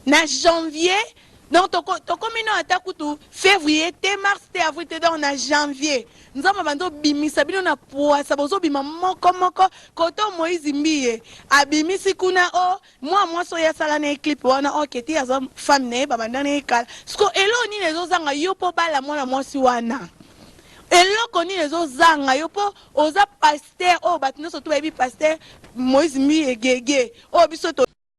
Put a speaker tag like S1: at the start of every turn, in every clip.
S1: Na janvier donc toko tokomi no ata kutu fevrier te mars te avril te donc na janvier nzambe abandi obimisa bino na puasa bozobima moko moko koto moise mbiye abimisi kuna o oh, mwa mwasi oyo asala na ye clip wana oke oh, te aza femme na ye babanda na ye kala siko eloko nini ezozanga yo mpo bala mwana mwasi wana eloko nini ezozanga yo mpo oza paster oyo oh, bato nyonso to bayebi paster moise mbiye gege oyo biso to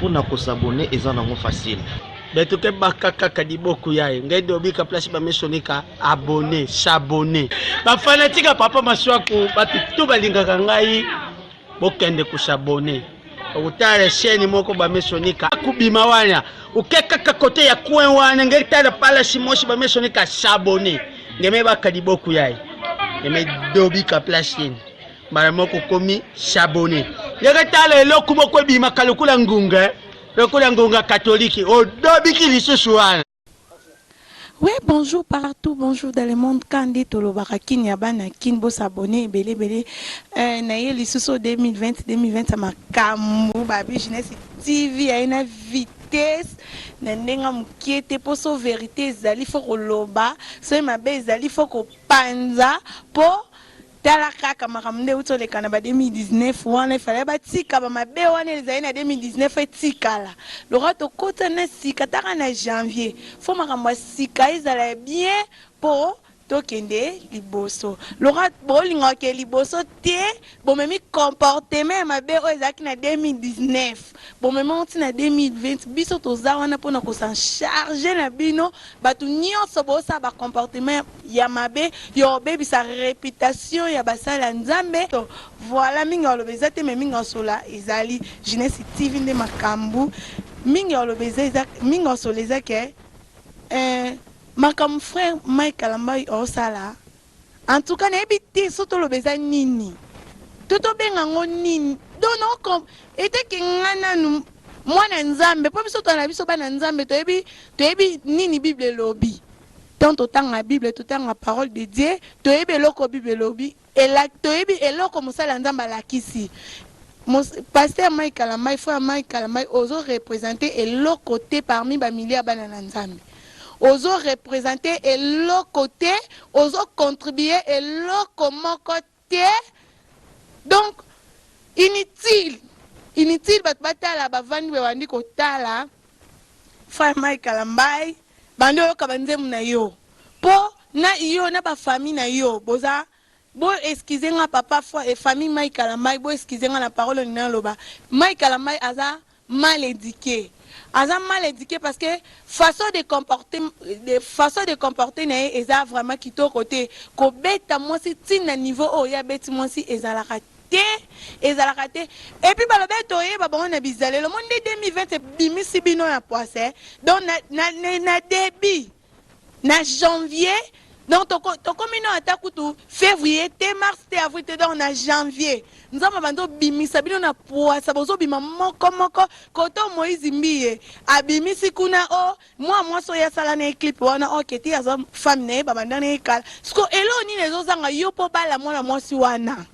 S2: Pona ko s'abonner eza nango facile. Beto ke baka
S3: kaka liboku yaye ngai de obika place ba mesonika abonner, s'abonner. Ba fanatique ya papa Masuaku batu tout balingaka ngai bokende ko s'abonner. Okutala chaîne moko ba mesonika kubima wana. Oke kaka kote ya coin wana ngai tala pala simosi ba mesonika s'abonner. Ngeme baka liboku yaye. Ngeme dobika place yene. mbala moko okomi sabone ndenge tala eloko moko ebimaka lokola ngunga eh. lokola ngunga katolike odobiki lisusu wana
S1: Oui, bonjour partout, bonjour dans le monde. Kandi tolobaka kin ya bana kin bo s'abonner ebele ebele. Euh, na ye lisusu 2020 2020 makambo ba business TV ya na vitesse na ndenga mokie te mpo so verité ezali fo koloba soki mabe ezali fo kopanza mpo Tala kaka makambo nde euti oleka na ba 2019 wana il fallait batika ba mabe wana elzali na 2019 etikala lokola tokota na sika ata kaka na janvier faut makambo ya sika ezala ya bien po tokende liboso lokola bolinga kokende liboso te bomemi comportement ya mabe oyo ezalaki na 2019. Bomema yango ti na 2020 biso toza wana pona ko s'en charger na bino batu nionso bosala ba comportement ya mabe ya kobebisa reputation ya basali ya Nzambe voila mingi ya koloba eza te mais mingi ya kosolola ezali Jeunesse TV nde makambu mingi ya koloba eza eza mingi ya kosolola eza ke eh makambu frère Mike Kalambay osala En tout cas nayebi te so toloba eza nini to tobenga yango nini donc noko eteke nga nanu mwana nzambe mpo biso twana biso bana nzambe toyebi toyebi nini bible elobi tant totanga bible totanga parole de dieu toyebi eloko bible elobi ela, toyebi eloko mosala nzambe alakisi pasteur mike kalambai frère mike kalambai ozo represente eloko te parmi bamilia bana na nzambe Ozo representer eloko te, ozo contribuer eloko moko te donc inutile inutile batu batala bavandi babandi kotala frère Mike Kalambay bandi oyoka ba nzembo na yo po na yo na ba famille na yo boza Bo excuse nga papa foi et famille Mike kalambay bo excuse nga na parole oyo nina loba Mike kalambay aza mal eduque aza mal eduque parce que façon de comporte façon de comporte na ye eza vraiment kitoko te ko beta mwasi ti na niveau oyo ye abeti mwasi ezalaka te ezalaka te et puis baloba ete oyeba bango na bizaleli omoni nde 2020 ebimisi bino na puasa donc na na na debut na janvier donc toko tokomi no ata kutu fevrier te mars te avril te donc na janvier nzambe abandi obimisa bino na puasa bozobima moko moko koto moise mbiye abimisi kuna o oh, mwa mwasi oyo asala na ye clip wana o oh, keti aza fami na ye babanda na ye kala siko eloo nini ezozanga yo mpo bala mwana mwasi wana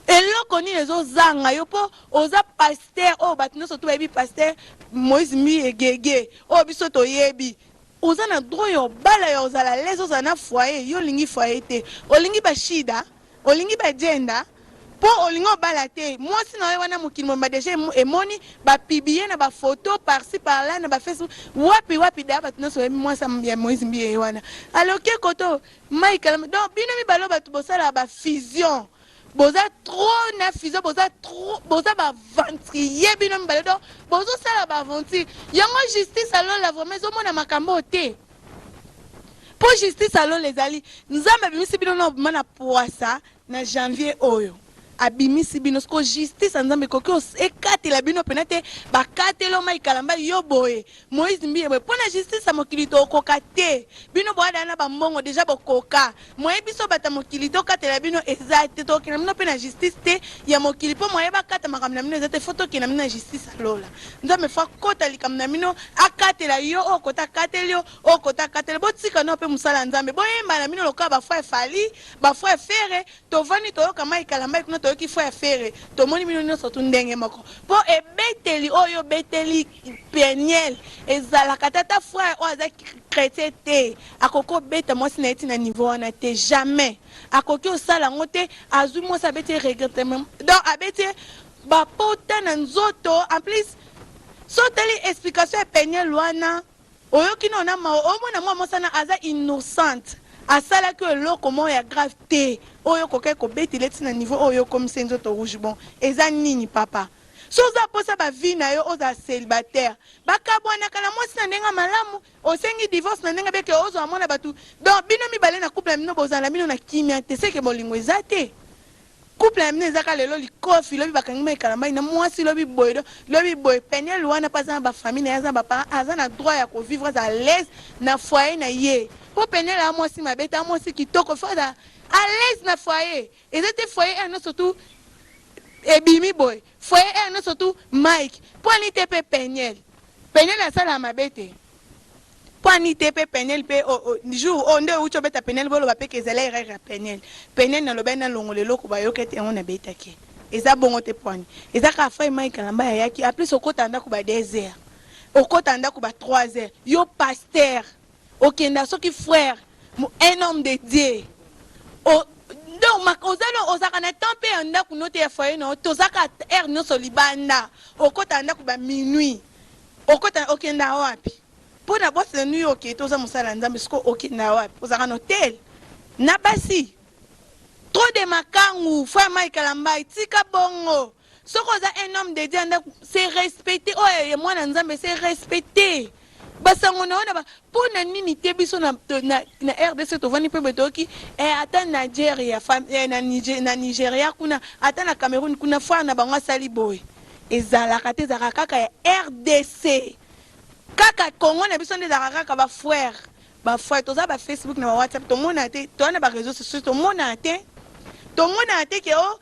S1: eloko nini ezozanga yo mpo oza paster oyo oh, bato nyonso to bayebi paster moise mbiye gege oyo oh, biso toyebi Oza na droit ya obala ya ozala alaise ozala na foyer yo olingi foyer te olingi ba shida olingi ba djenda po olingi obala te muasi na yo wana mokili mobimba dejà emoni ba pibiye na ba photo par ci par là na ba facebook wapi wapi d'ailleurs batu nionso bayebi muasi ya moise mbiye ye wana aloke koto mike kalambay donc bino mibale oyo batu bosalaka ba fusion boza trop na fizo boza trop boza ba aventurier bino mibale donc bozosala ba aventure yango justice alola vraiment ezomona makambo oyo te mpo justice alola ezali nzambe abimisi bino na obima na pwasa na janvier oyo abimisi bino siko justice ya nzambe ekoki ekatela bino mpena te bakateloma ikalamba yo boye Moise mbiye boye pona justice ya mokili tokoka te bino boada na ba mbongo deja bokoka moyen biso batu ya mokili tokatela bino eza te tokokenda bino pe na justice te ya mokili po moyen bakata makambo na bino eza te fo tokenda bino na justice ya lola nzambe fo akota likambo na bino akatela yo oyo kote akateli yo oyo kote akateli botika nao pe mosala ya nzambe boyemba na bino lokola ba frere fally ba frere fere tovandi toyoka mike kalambayi kuna toyoki frere fere tomoni bino nioso tu ndenge moko po ebeteli oyo obeteli Penielle ezalaka te ata frère oyo aza chretien te akoki obeta mwasi na ye ti na niveau wana te jamais akoki osala yango te azwi mwasi abeti ye regrettement donc abeti ye ba pota na nzoto en plus so otali explication ya penielle wana oyoki nao na mawa omona mwa mwasi wana aza innocente asalaki oyo eloko moko ya grave te oyo okokaki kobetele ti na niveau oyo yo okomisi ye nzoto rouge bon eza nini papa Soki oza posa ba vie na yo ozala celibataire ba kabuanaka na mwasi na ndenge ya malamu osengi divorce na ndenge bien que ozo amona batu donc bino mibale na couple na bino bozala na bino na kimia te seke bolingo eza te couple na bino eza ka lelo likofi lobi bakangi mai kalambay na mwasi lobi boye do lobi boye peniel wana pe aza na ba famille na ye aza na ba parents aza na droit ya ko vivre aza à l'aise na foyer na ye po peniel a mwasi mabe te a mwasi kitoko il faut azala à l'aise na foyer Eza te foyer heure nionso tout ebimi boye foyer heure nionso tout Mike po ani te pe peniel peniel asala mabe te po ani te pe peniel pe oh, oh, jour oh nde outi obeta peniel boloba pe kezela erreur ya peniel peniel na lobani na longola eloko ba yoka te yango na beta ke eza bongo te poani eza ka fai Mike alamba ya yaki a plus okota ndako ba 2 heures okota ndako ba 3 heures yo pasteur Okenda soki frère un homme de Dieu o donc oza na ozaka na temps pe ya ndaku no te ya foyer na yo tozaka heure nionso libanda okota ndaku ba minuit okota okenda wapi po na boss na nuit oke toza mosala ya Nzambe siko okenda wapi ozaka na hotel na basi trop de makangu frère Mike Kalambay tika bongo Soki oza un homme de Dieu ya ndaku se respecter oyo ya mwana Nzambe se respecter ba sango na yo na ba po na nini te biso na, na, na RDC tovandi mpe boye toyoki eh, ata Nigeria fam, eh, na, Niger, na Nigeria kuna ata na Cameroun kuna foire na bango asali boye ezalaka te ezalaka kaka ya RDC kaka Congo na biso nde ezalaka kaka ba foire ba foire toza ba Facebook na ba WhatsApp tomona te toza na ba réseaux sociaux tomona te tomona te ke o oh,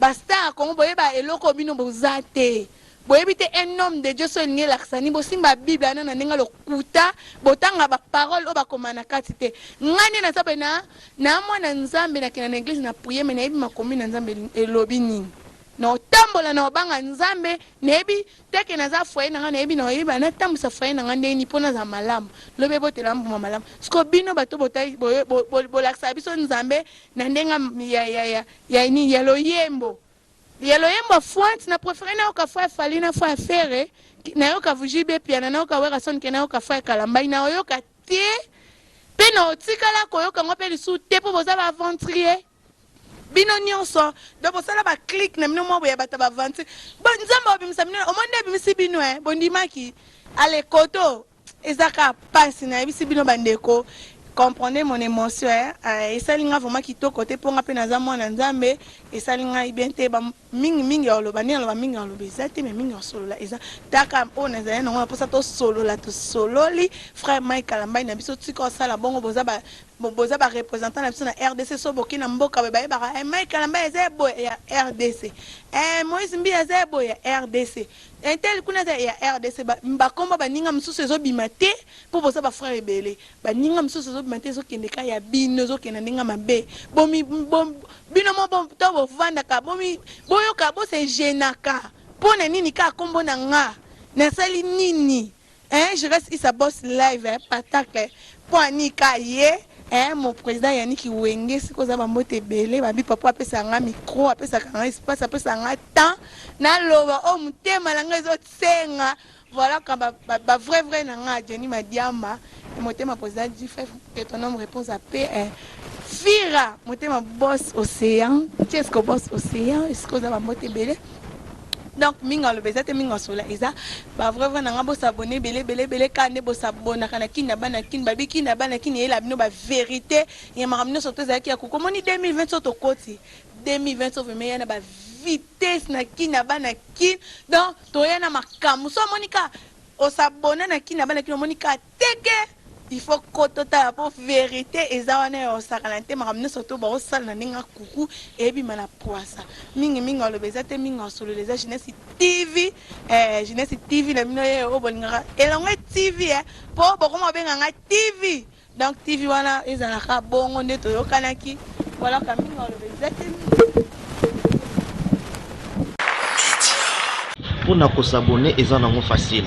S1: Ba star ya congo boyeba eloko bino boza te boyebi te un homme de Dieu soki elingi elakisa nini bosimba bible wana na ndenge ya lokuta botanga ba parole oyo bakoma na kati te ngai nde naza boye na na mwana nzambe nakenda na eglise na prier mais nayebi makomi na nzambe elobi nini na otambola na obanga nzambe nayebi teke naza foyer na ngai nayebi na oyeba natambwisa foyer na ngai ndenge nini mpo nazala malamu lobi ebotela mbuma malamu siko bino bato botai- boye- bo- bo- bolakisaka biso nzambe na ndenge ya, ya, ya, ya, Ya nini ya loyembo ya loyembo afuati na prefere na yoka frère Fally na frère Ferre que na yoka JB Mpiana na yoka Werrason que na yoka frère Kalambay na oyoka te pe na otikala ko yoka ngo pe lisusu te po boza ba aventurier bino nionso donc bosala ba clique na bino mwa boya bata ba aventure bo nzambe obimisa bino omoni nde ebimisi bino eh bondimaki ale koto Eza kaka pasi nayebisi bino ba ndeko comprendrez mon emotion hein euh, esali nga vraiment kitoko te po nga pe naza mwana nzambe esali ngai bien te ba mingi mingi ya oloba nde aloba mingi ya oloba eza te mais mingi ya osolola eza taka oyo nazali nango na posa tosolola tosololi frère Mike Kalambai na biso tika osala bongo boza ba boza ba représentant na biso na RDC so boki na mboka boye bayebaka eh, Mike Kalambai eza ya boye ya RDC eh, Moïse Mbiye eza ya boye ya RDC Intel kuna eza ya rdc ba kombo ya baninga mususu ezo bima te po boza ba frère ebele ba ninga mususu ezo bima te ezo kende ka ya bino ezo kende ndenge ya mabe bo mi bo bino mo bo to bo vandaka bo mi boyoka bo se genaka pona nini ka kombo na nga na sali nini Eeh Giresse Issa Boss live eh patacle po anika ye eeh mon president Yannick Wenge sika oza ba mbote ebele ba bipa po apesaka nga micro apesaka nga espace apesaka nga temps naloba oyo mutema na nga ezo senga voila quand ba ba vrai vrai na nga Jenny Madiamba eh motema president G-Fef que ton homme repose à paix eh Fira motema Boss Ocean Chesco Boss Ocean esika oza ba mbote ebele. donc mingi aloba eza te mingi asola eza ba vrai vrai na nga bo s'abonner bele bele bele ka nde bo s'abonnaka na kin na bana kin babi kin na bana kin eyela bino ba verite ya makambo nyonso to ezalaki ya koko moni 2020 so tokoti 2020 so vraiment ya na ba vitesse na kin na bana kin donc toya na makambo so amoni ka osabona na kin na bana kin omoni ka Teke! Il faut ko totala po verite eza wana ya kosakana te, makambo nionso to bako sala na ndenge ya kuku ebima na puasa. Mingi mingi aloba eza te, mingi asolola eza Jeunesse TV eh Jeunesse TV na bino ye oyo bolingaka elongwe TV eh po bokoma kobenga nga TV donc TV wana ezala ka bongo nde toyokanaki voilà ka mingi aloba eza te
S2: mingi. Pona ko s'abonner eza nango facile.